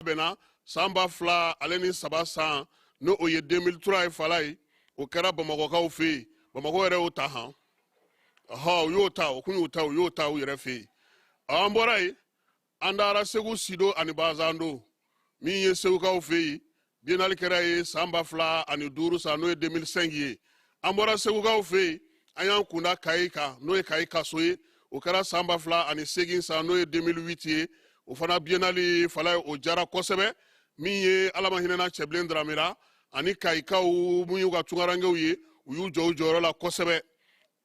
bɛnna san ba fila ale ni saba san n'o ye 2003 ye falaye o kɛra bamakɔkaw fɛ yen bamakɔ yɛrɛ y'o ta han ɔhɔ u y'o ta o kun y'o ta u y'o ta u yɛrɛ fɛ yen an bɔra yen an taara segu sido ani bazando min ye segukaw fɛ yen biennale kɛra yen san ba fila ani duuru san n'o ye 2005 ye an bɔra segukaw fɛ yen an y'an kunda kayi kan n'o ye kayi kaso ye o kɛra san ba fila ani segin san n'o ye 2008 ye o fana biennale falaye o jara kosɛbɛ min ye ala ma hinɛna cɛbilen daramɛ ra ani kayikaw mun y'u ka tungarankew ye u y'u jɔ u jɔyɔrɔ la kosɛbɛ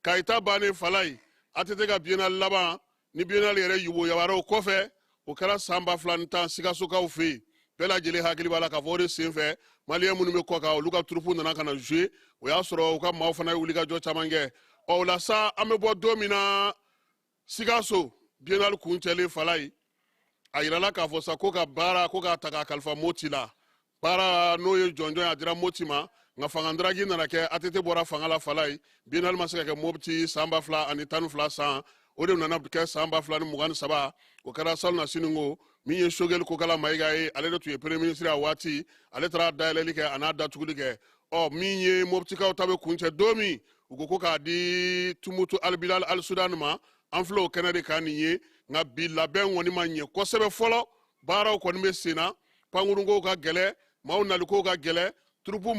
kayi ta bannen falaye atete ka biennale laban ni biennale yɛrɛ yoboyabara o kɔfɛ o kɛra san ba fila ni tan sikasokaw fɛ yen bɛɛ lajɛlen hakili b'a la k'a fɔ o de sen fɛ maliyɛn minnu bɛ kɔ kan olu ka turupu nana ka na jouer o y'a sɔrɔ u ka maaw fana ye wulikajɔ caman kɛ ɔ o la sa an bɛ bɔ don min na sikaso biennale kuncɛlen falaye a yirala k'a fɔ sa ko ka baara ko k'a ta k'a kalifa moti la baara n'o ye jɔnjɔn a dira moti ma nka fangadafiri nana kɛ atete bɔra fanga la falaye biennale ma se ka kɛ mopti san ba fila ani tan ni fila san o de nana kɛ san ba fila ni mugan ni saba o kɛra salonasinin ko min ye sogɛli kokala mayiga ye ale de tun ye premier ministre a waati ale taara dayɛlɛli kɛ a n'a datuguli kɛ ɔ min ye moptikaw ta bɛ kuncɛ don min u ko ko k'a di tumutu albilal al sudan ma an filɛ o kɛnɛ de kan nin ye nka bi labɛn kɔni ma ɲɛ kosɛbɛ fɔlɔ baaraw kɔni bɛ sen na pankurunkow ka gɛlɛ maaw nalikow ka gɛlɛ turupu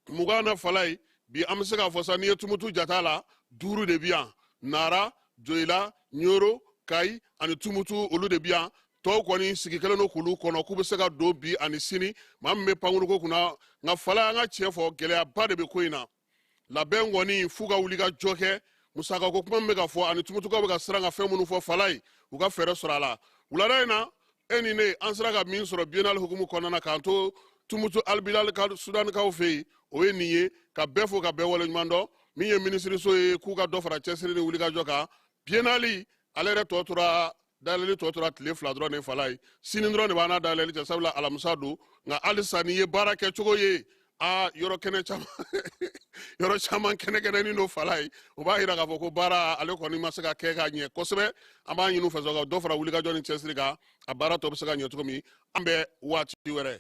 mugan na falaye bi an bɛ se k'a fɔ sa n'i ye tumutu jat'a la duuru de bi yan nara joyila ɲoro kayi ani tumutu olu de bi yan tɔw kɔni sigi kɛlen don k'olu kɔnɔ k'u bɛ se ka don bi ani sini maa min bɛ pankurunko kunna nka falaye an ka tiɲɛ fɔ gɛlɛyaba de bɛ ko in na labɛn kɔni f'u ka wulikajɔ kɛ musakako kuma min bɛ ka fɔ ani tumutukaw bɛ ka siran ka fɛn minnu fɔ falaye u ka fɛɛrɛ sɔrɔ a la wulada in na e ni ne an sera ka min sɔrɔ biennale hukumu kɔnɔna na k'an to tumutu albilal sudanikaw fɛ yen o ye nin ye ka bɛɛ fo ka bɛɛ waleɲuman dɔn min ye minisiriso ye k'u ka dɔ fara cɛsiri ni wulikajɔ kan biennale ale yɛrɛ tɔ tora dayɛlɛli tɔ tora tile fila dɔrɔn de falaye sini dɔrɔn de b'an n'a dayɛlɛli cɛ sabula alamisa don nka halisa n'i ye baara kɛcogo ye a yɔrɔ caman kɛnɛkɛnɛnin don falaye o b'a yira k'a fɔ ko baara ale kɔni ma se ka kɛ ka ɲɛ kosɛbɛ an b'a ɲini u fɛ ka dɔ fara wulikajɔ ni cɛsiri kan a baara tɔ bɛ se ka ɲɛ cogo min an bɛ waati wɛrɛ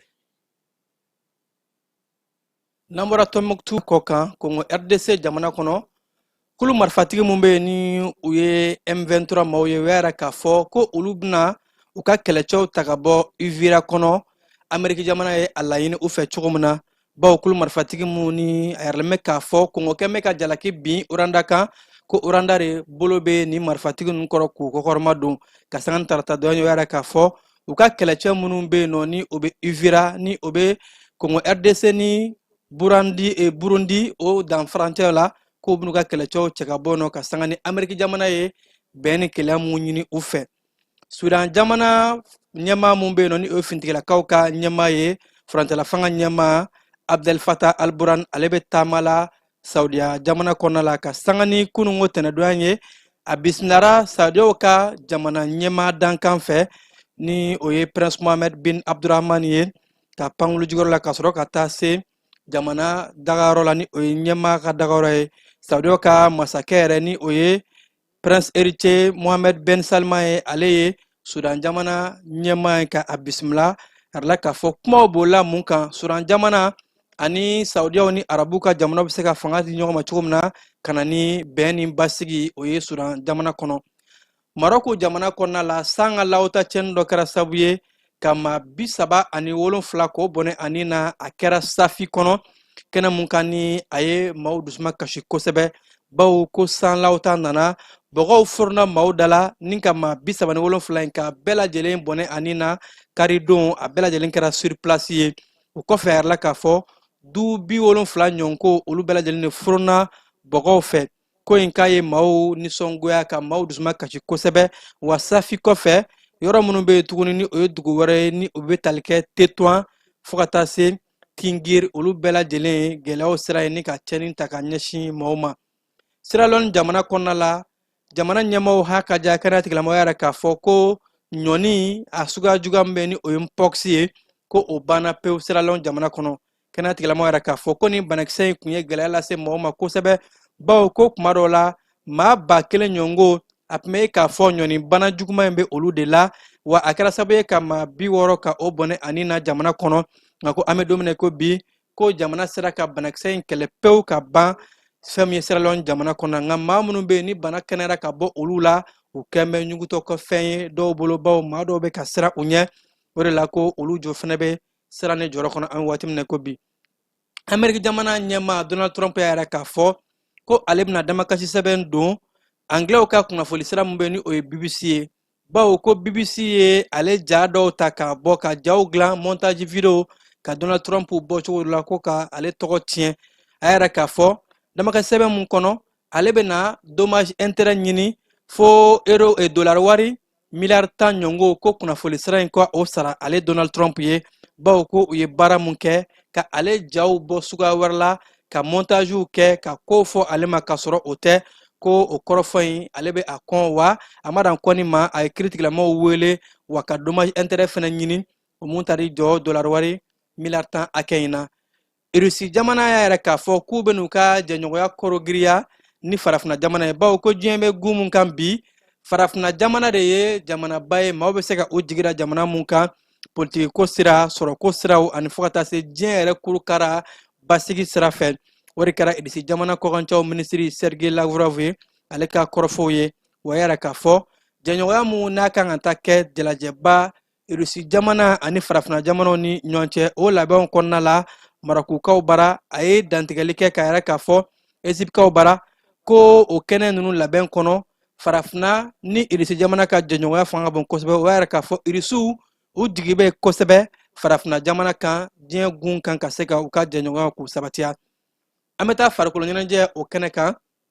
n'an bɔra tɔnbukutu kɔ kan kongo rdc jamana kɔnɔ kulu marifatigi min bɛ yen ni u ye m23 maaw ye u y'a yira k'a fɔ ko olu bɛna u ka kɛlɛcɛw ta ka bɔ uvira kɔnɔ ameriki jamana ye a laɲini u fɛ cogo min na bawo kulu marifatigi minnu ni a yiralen bɛ k'a fɔ kongo kɛ bɛ ka jalaki bin rwanda kan ko rwanda de bolo bɛ nin marifatigi ninnu kɔrɔ k'u kɔkɔrɔmadon ka sanga ni tarata don in u y'a yira k'a fɔ u ka kɛlɛcɛ minnu bɛ yen nɔ ni o bɛ uvira ni o bɛ kongo rdc ni burundi o dan furancɛ la k'u bɛn'u ka kɛlɛcɛw cɛ ka bɔ nɔ ka sanga ni ameriki jamana ye bɛn ni kelenya mun ɲini u fɛ sudan jamana ɲɛmaa mun bɛ yen nɔ ni o ye fintigilakaw ka ɲɛmaa ye furancɛlafanga ɲɛmaa abdel fatah alburan ale bɛ taama la saudiya jamana kɔnɔna la ka sanga ni kununko tɛnɛdonya ye a bisimilara saudiyaw ka jamana ɲɛmaa dankan fɛ ni o ye prince mohammed bin abdurahman ye ka pankulu jigiyɔrɔ la ka sɔrɔ ka taa se jamana dagayɔrɔ la ni o ye ɲɛmaa ka dagayɔrɔ ye saudiyaw ka masakɛ yɛrɛ ni o ye prince héritier mohamed ben salman ye ale ye sudan jamana ɲɛmaa ye ka a bisimila a yirala k'a fɔ kumaw b'o la mun kan sudan jamana ani saudiyaw ni arabu ka jamanaw bɛ se ka fanga di ɲɔgɔn ma cogo min na ka na ni bɛn ni basigi o ye sudan jamana kɔnɔ marɔku jamana kɔnɔna la san ka lawota cɛni dɔ kɛra sabu ye ka maa bi saba ani wolonfila k'o bɔnɛ a ni na a kɛra safi kɔnɔ kɛnɛ mun kan ni a ye maaw dusuma kasi kosɛbɛ bawo ko sanlaw ta nana bɔgɔw forona maaw da la ni ka maa bi saba ni wolonfila in ka bɛɛ lajɛlen bɔnɛ a ni na karidon a bɛɛ lajɛlen kɛra sur place ye o kɔfɛ a yirala k'a fɔ du bi wolonfila ɲɔgɔn ko olu bɛɛ lajɛlen de forona bɔgɔw fɛ ko in k'a ye maaw nisɔngoya ka maaw dusuma kasi kosɛbɛ wa safi kɔfɛ yɔrɔ minnu bɛ yen tuguni ni o ye dugu wɛrɛ ye ni o bɛ tali kɛ tetuwan fo ka taa se tingiri olu bɛɛ lajɛlen ye gɛlɛyaw sira ye ni ka cɛni ta ka ɲɛsin maaw ma siralɔni jamana kɔnɔna la jamana ɲɛmaaw ha ka ja kɛnɛya tigilamɔgɔw y'a yira k'a fɔ ko ɲɔni a suguya juguya min bɛ ni o ye mpɔkisi ye ko o banna pewu siralɔn jamana kɔnɔ kɛnɛya tigilamɔgɔw y'a yira k'a fɔ ko nin banakisɛ in kun ye gɛlɛya lase maaw ma kosɛbɛ bawo ko kuma dɔw la maa ba kelen ɲɔgɔn ko a tun bɛ k'a fɔ ɲɔni bana juguman in bɛ olu de la wa a kɛra sababu ye ka maa bi wɔɔrɔ ka o bɔnɛ a ni na jamana kɔnɔ nka ko an bɛ don min na ko bi ko jamana sera ka banakisɛ in kɛlɛ pewu ka ban fɛn min ye siralɔn jamana kɔnɔ nka maa minnu bɛ yen ni bana kɛnɛyara ka bɔ olu la u kɛn bɛ ɲugutɔ ka fɛn ye dɔw bolo baw maa dɔw bɛ ka siran u ɲɛ o de la ko olu jɔ fana bɛ siran ni jɔrɔ kɔnɔ an bɛ waati min na ko bi ameriki jamana ɲɛmaa donald trump y'a yira k'a fɔ ko ale bɛna damakasi sɛbɛn don angilɛw ka kunnafoni sira min bɛ ni o ye bbc ye bawo ko bbc ye ale ja dɔw ta k'a bɔ ka jaw dilan montage video ka donald trump bɔ cogo dɔ la ko ka ale tɔgɔ tiɲɛ a y'a yira k'a fɔ damakasi sɛbɛn mun kɔnɔ ale bɛna dommage intérêt ɲini fo euro e dollar wari miliyari tan ɲɔngo ko kunnafoli sira in ka o sara ale donald trump ye bawo ko u ye baara mun kɛ ka ale jaw bɔ suguya wɛrɛ la ka montagew kɛ ka kow fɔ ale ma k'a sɔrɔ o tɛ ko o kɔrɔfɔ in ale bɛ a kɔn wa a ma dan kɔnni ma a ye kiritigilamaw wele wa ka dommage intérêt fɛnɛ ɲini o mun tari jɔ dolari wari miliyari tan hakɛ in na irisi jamana y'a yira k'a fɔ k'u bɛn'u ka jɛɲɔgɔnya kologirinya ni farafina jamana ye bawo ko diɲɛ bɛ gun mun kan bi farafina jamana de ye jamanaba ye maaw bɛ se ka u jigi da jamana mun kan politikiko sira sɔrɔko siraw ani fo ka taa se diɲɛ yɛrɛ kuru kara basigi sira fɛ o de kɛra irisi jamana kɔkancɛw minisiri sergei lavrov ye ale ka kɔrɔfɔw ye o y'a yira k'a fɔ jɛɲɔgɔnya mun n'a kan ka taa kɛ jalajɛba irisi jamana ani farafina jamanaw ni ɲɔgɔn cɛ o labɛnw kɔnɔna la marakukaw bara a ye dantigɛli kɛ k'a yira k'a fɔ ezipikaw bara ko o kɛnɛ ninnu labɛn kɔnɔ farafina ni irisi jamana ka jɛɲɔgɔnya fanga ka bon kosɛbɛ u y'a yira k'a fɔ irisiw u jigi bɛ kosɛbɛ farafina jamana kan diɲɛ gun kan ka se ka u ka jɛɲɔgɔnyaw k'u sabatiya an bɛ taa farikolo ɲɛnajɛ o kɛnɛ kan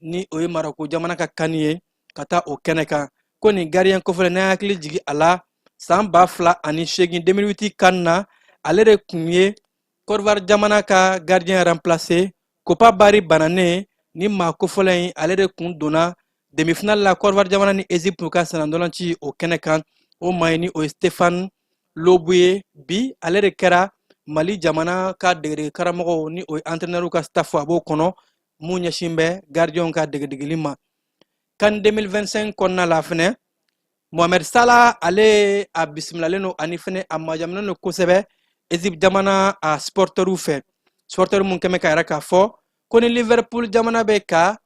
ni o ye marako jamana ka kani ye ka taa o kɛnɛ kan ko nin gardien kofɔlen n'an hakili jigi a la san ba fila ani seegin 2008 kan na ale de kun ye kɔdiwari jamana ka gardien remplaçant kopa bari bananen nin maa kofɔlen in ale de kun donna demifinali la kɔdiwari jamana ni ezipu ka sennandolanci o kɛnɛ kan o maa in ni o ye stefan loboué ye bi ale de kɛra mali jamana ka degedege karamɔgɔw ni o ye antrenɛriw ka stafu a b'o kɔnɔ mun ɲɛsin bɛ gardienw ka degedegeli ma kan 2025 kɔnɔna la fɛnɛ mohamed sala ale a bisimilalen don ani fɛnɛ a majaminen don kosɛbɛ egypte jamana a supɔritɛriw fɛ supɔritɛri mun kɛmɛ k'a yira k'a fɔ ko ni liverpool jamana bɛ ka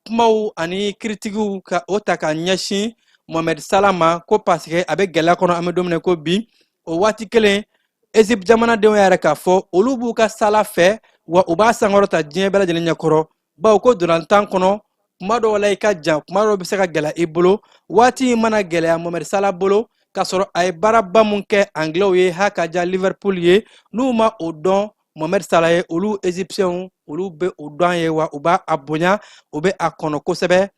kumaw ani kiritikiw ka o ta ka ɲɛsin mohamed sala ma ko paseke a bɛ gɛlɛya kɔnɔ an bɛ don min na ko bi o waati kelen ezip jamanadenw y'a yira k'a fɔ olu b'u ka sala fɛ wa u b'a sankɔrɔta diɲɛ bɛɛ lajɛlen ɲɛkɔrɔ bawo ko dolantan kɔnɔ kuma dɔw la i ka jan kuma dɔw bɛ se ka gɛlɛya i bolo waati in mana gɛlɛya mohamed sala bolo k'a sɔrɔ a ye baaraba mun kɛ anglɛw ye ha ka diya liverpool ye n'u ma o dɔn mohamed sala ye olu egyptiɛnw olu bɛ o dɔn ye wa u b'a a bonya u bɛ a kɔnɔ kosɛbɛ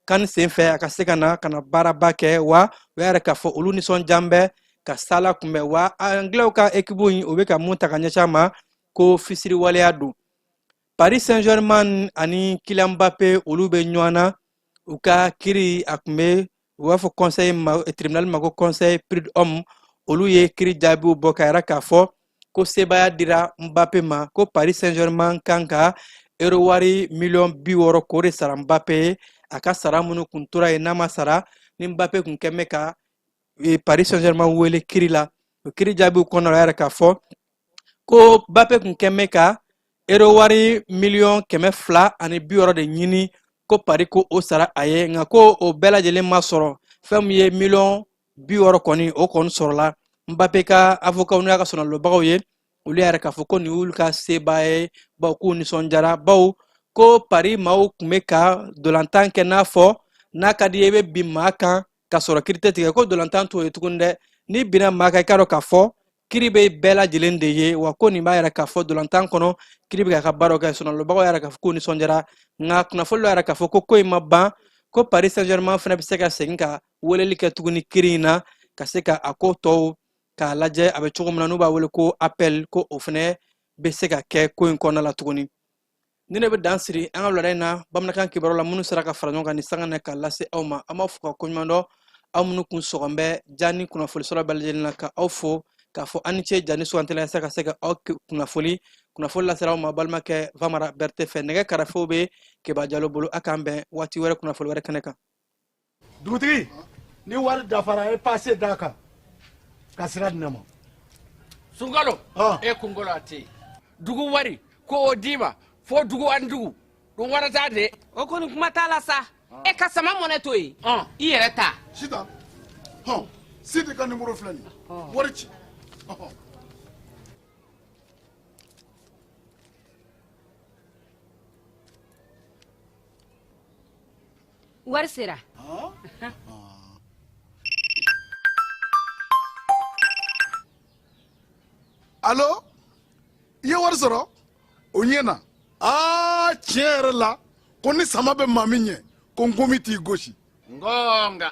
kan senfɛ a ka se ka na ka na baaraba kɛ wa u y'a yira k'a fɔ olu nisɔndiyalen bɛ ka sala kunbɛn wa anglɛw ka ekipu in u bɛ ka mun ta ka ɲɛsin a ma ko fisiriwaleya don paris saint germain ani kylian mbappe olu bɛ ɲɔgɔn na u ka kiri a kun bɛ u b'a fɔ conseil tribunal ma ko conseil prud'homme olu ye kiri jaabiw bɔ k'a yira k'a fɔ ko sebaaya dira Mbappe ma ko Paris Saint-Germain kan ka euro wari miliyɔn bi wɔɔrɔ k'o de sara Mbappe ye a ka sara minnu kun tora yen n'a ma sara ni Mbappe kun kɛn bɛ ka e, Paris Saint-Germain wele kiri la o kiri jaabiw kɔnɔ la y'a yira k'a fɔ ko Mbappe kun kɛn bɛ ka euro wari miliyɔn kɛmɛ fila ani bi wɔɔrɔ de ɲini ko Paris k'o sara a ye nka ko o bɛɛ lajɛlen ma sɔrɔ fɛn min ye miliyɔn bi wɔɔrɔ kɔni o kɔni sɔrɔla Mbappe ka avokaw n'u y'a ka sɔnalobagaw ye olu y'a yira k'a fɔ ko nin y'olu ka seba ye bawo k'u nisɔndiyara bawo ko Paris maaw kun bɛ ka dolantan kɛ n'a fɔ n'a ka d'i ye i bɛ bin maa kan ka sɔrɔ kiri tɛ tigɛ ko dolantan t'o ye tuguni dɛ n'i binna maa kan i k'a dɔn k'a fɔ kiri bɛ bɛɛ lajɛlen de ye wa ko nin b'a yira k'a fɔ dolantan kɔnɔ kiri bɛ k'a ka baaraw kɛ sɔnalobagaw y'a yira k'a fɔ k'u nisɔndiyara nka kunnafoli y'a yira k'a fɔ ko ko in ma ban ko paris saint germain fana bɛ se ka segin ka weleli kɛ tuguni kiri in na ka se ka a ko tɔw k'a lajɛ a bɛ cogo min na n'u b'a wele ko appel ko o fana bɛ se ka kɛ ko in kɔnɔna la tuguni nin ne bɛ dan siri an ka wulada in na bamanankan kibaru la minnu sera ka fara ɲɔgɔn kan nin sanga na ka lase aw ma an b'a fo ka koɲuman dɔn aw minnu kun sɔgɔn bɛ ja ni kunnafoli sɔrɔ bɛɛ lajɛlen na ka aw fo k'a fɔ a ni ce ja ni suganti la yasa ka se ka aw kunnafoli kunnafoli lasera aw ma balimakɛ vamara bɛrɛte fɛ nɛgɛ karafew bɛ keba jalo bolo a k'an bɛn waati wɛrɛ kunnafoli wɛrɛ kɛnɛ kan dugutigi ni wari dafara e pase d'a kan ka sira di ne ma sunkalo e kunkolo a tɛ dugu wari ko o d'i ma fo dugu ani dugu dun wɛrɛ t'a de o kɔni kuma t'a la sa e ka Sama Money to yen i yɛrɛ ta sita hɔn sidi ka nimoro filɛ nin wari ci wari sera alo i ye wari sɔrɔ o ɲɛna aa tiɲɛ yɛrɛ la ko ni sama bɛ maa min ɲɛ ko nkomi t'i gosi nka